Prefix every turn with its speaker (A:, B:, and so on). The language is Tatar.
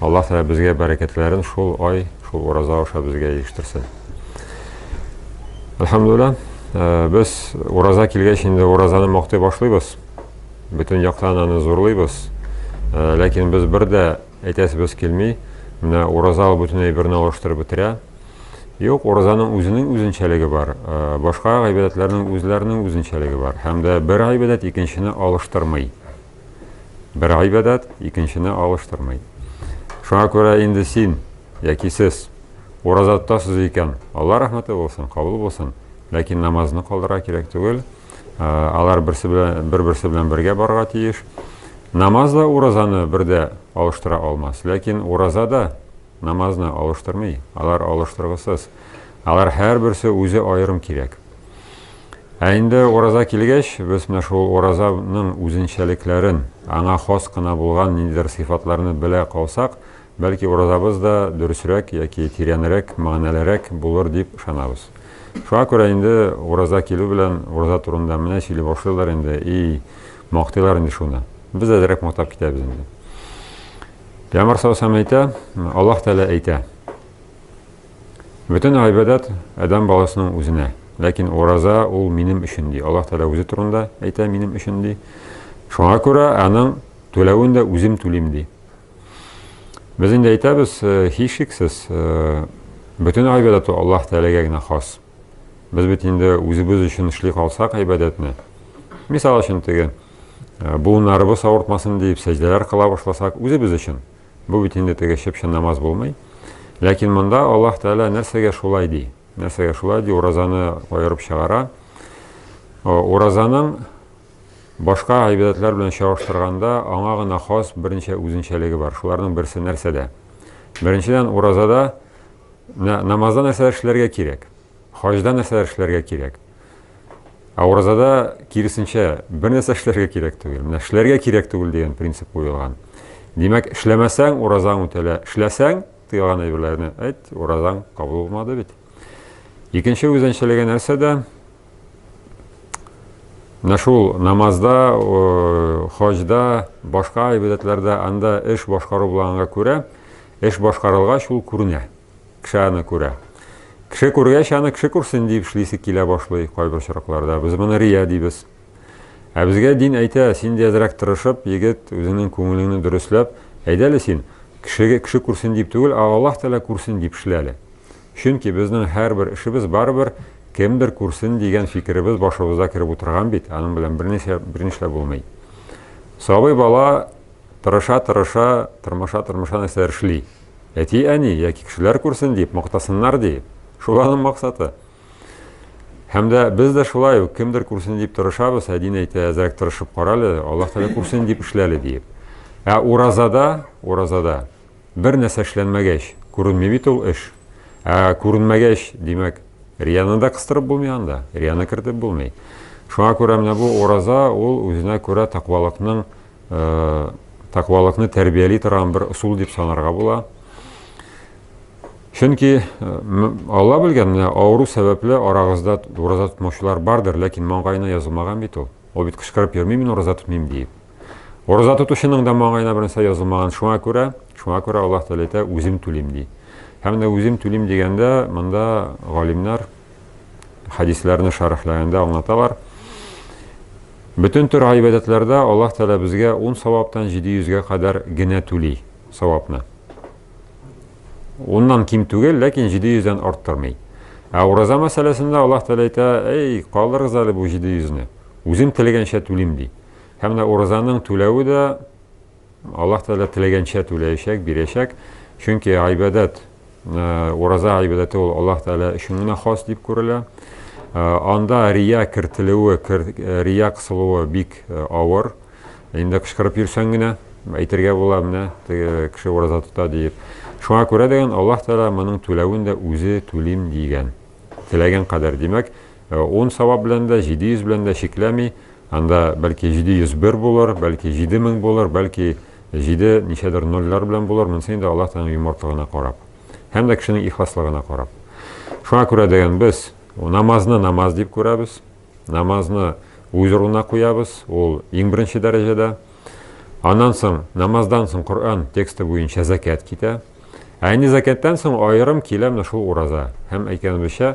A: Аллаһ Тәгалә безгә бәрәкәтләрен шул ай, шул ураза аша безгә ирештерсен. Әлхәмдулилла, э, без ураза килгәч инде уразаны мактый башлыйбыз. Бөтен яктан аны зурлыйбыз. Э, ләкин без бер дә әйтәсебез килми, менә ураза ул бөтен әйберне алыштырып бетерә. Юк, уразаның үзенең үзенчәлеге бар, э, башка гыйбадәтләрнең үзләренең үзенчәлеге бар. Һәм дә бер гыйбадәт икенчене алыштырмый. Бер гыйбадәт икенчене алыштырмый. Шуңа күрә инде син яки сез ураза тотасыз икән, Алла рәхмәте булсын, кабул булсын, ләкин намазны калдырырга кирәк түгел. Алар берсе белән бер-берсе белән бергә барырга тиеш. Намаз да уразаны бердә алыштыра алмас, ләкин ураза да Намазны алыштырмый, алар алыштыргысыз. Алар һәрберсе үзе аерым кирәк. Ә инде ураза килгәч, без менә шул уразаның үзенчәлекләрен, аңа хас кына булган ниндидер сыйфатларны белә калсак, бәлки уразабыз да дөресрәк яки тирәнрәк, мәгънәлерәк булыр дип ышанабыз. Шуңа күрә инде ураза килү белән ураза турында менә сөйли башлыйлар инде, и, мактыйлар инде шуны. Без әзрәк мактап китәбез инде. Пәйгамбәр саллаллаху алейһи ва сәлләм әйтә, Аллаһ Тәгалә әйтә. Бөтен гыйбадәт адәм баласының үзенә. Ләкин ураза ул минем өчен ди. Аллаһ Тәгалә үзе турында әйтә минем өчен ди. Шуңа күрә аның түләвен дә үзем түлим ди. Без инде әйтәбез, э, һичшиксез, э, бөтен гыйбадәт Аллаһ Тәгаләгә генә хас. Без бит инде үзебез өчен эшли калсак гыйбадәтне. Мисал өчен теге буыннарыбыз авыртмасын диеп сәҗдәләр кыла башласак, үзебез өчен. Бу бит инде теге чып-чын намаз булмый. Ләкин монда Аллаһ Тәгалә нәрсәгә шулай ди? Нәрсәгә шулай ди? Уразаны аерып чыгара. Уразаның башка гыйбадәтләр белән чагыштырганда аңа гына хас берничә үзенчәлеге бар. Шуларның берсе нәрсәдә? Беренчедән, уразада намазда нәрсәләр эшләргә кирәк? Хаҗда нәрсәләр эшләргә кирәк? Ә уразада, киресенчә, бернәрсә эшләргә кирәк түгел. Менә эшләргә кирәк түгел дигән принцип куелган. Димәк, эшләмәсәң, уразаң үтәлә. Эшләсәң, тыелган әйберләрне әйт, уразаң кабул булмады бит. Икенче үзенчәлеге нәрсәдә? Менә шул намазда, хаҗда, башка гыйбадәтләрдә анда эш башкару булганга күрә, эш башкарылгач ул күренә. Кеше аны күрә. Кеше күргәч, аны кеше күрсен дип эшлисе килә башлый кайбер очракларда. Без моны рия дибез. Ә безгә дин әйтә, син дә әзрәк тырышып, егет, үзеңнең күңелеңне дөресләп, әйдәле син, кешегә кеше күрсен дип түгел, ә Аллаһ Тәгалә күрсен дип эшләле. Чөнки безнең һәрбер эшебез барыбер кемдер күрсен дигән фикеребез башыбызда кереп утырган бит, аның белән берничә бернишләп булмый. Сабый бала тырыша-тырыша, тырмаша-тырмаша нәрсәләр эшли. әти-әни яки кешеләр күрсен дип мактасыннар ди. Шул аның максаты. Һәм дә без дә шулай ук кемдер күрсен дип тырышабыз, ә дин әйтә, әзрәк тырышып карале, Аллаһ Тәгалә күрсен дип эшләле диеп. Ә уразада, уразада бер нәрсә эшләнмәгәч, күренми бит ул эш. Ә күренмәгәч, димәк, рияны да кыстырып булмый анда, рияны кертеп булмый. Шуңа күрә менә бу ураза ул үзенә күрә тәкъвалыкның тәкъвалыкны тәрбияли торган бер ысул дип санарга була. Чөнки Алла белгән, менә авыру сәбәпле арагызда ураза тотмаучылар бардыр, ләкин маңгаена язылмаган бит ул. Ул бит кычкырып йөрми, мин ураза тотмыйм диеп. Ураза тотучының да маңгаена бернәрсә язылмаган. Шуңа күрә, шуңа күрә Аллаһ Тәгалә әйтә, үзем түлим ди. Һәм дә үзем түлим дигәндә, монда галимнәр хәдисләрне шәрехләгәндә аңлаталар. Бөтен төр гыйбадәтләрдә Аллаһ Тәгалә безгә 10 саваптан 700-гә кадәр генә түли савапны. Уннан ким түгел, ләкин 700-дән арттырмый. Ә ураза мәсьәләсендә Аллаһ Тәгалә әйтә, "Эй, калдырыгыз әле бу 700-ны. Үзем теләгәнчә түлим", ди. Һәм менә уразаның түләве дә Аллаһ Тәгалә теләгәнчә түләячәк, бирәчәк. Чөнки гыйбадәт, ураза гыйбадәте ул Аллаһ Тәгалә өчен генә хас дип күрелә. Анда рия кертелүе, рия кысылуы бик авыр. Инде кычкырып йөрсәң генә әйтергә була менә кеше ураза тота диеп. Шуңа күрә дигән Аллаһ Тәгалә моның түләвен дә үзе түлим дигән. Теләгән кадәр, димәк, Ун савап белән дә, җиде йөз белән дә чикләми, анда бәлки җиде йөз бер булыр, бәлки җиде мең булыр, бәлки җиде ничәдер нольләр белән булыр, монысы инде Аллаһ Тәгаләнең юмартлыгына карап һәм дә кешенең ихласлыгына карап. Шуңа күрә дигән без намазны намаз дип күрәбез, намазны үз урынына куябыз, ул иң беренче дәрәҗәдә. Аннан соң, намаздан соң Коръән тексты буенча зәкят китә. Ә инде зәкяттан соң аерым килә менә шул ураза. Һәм әйткәнебезчә,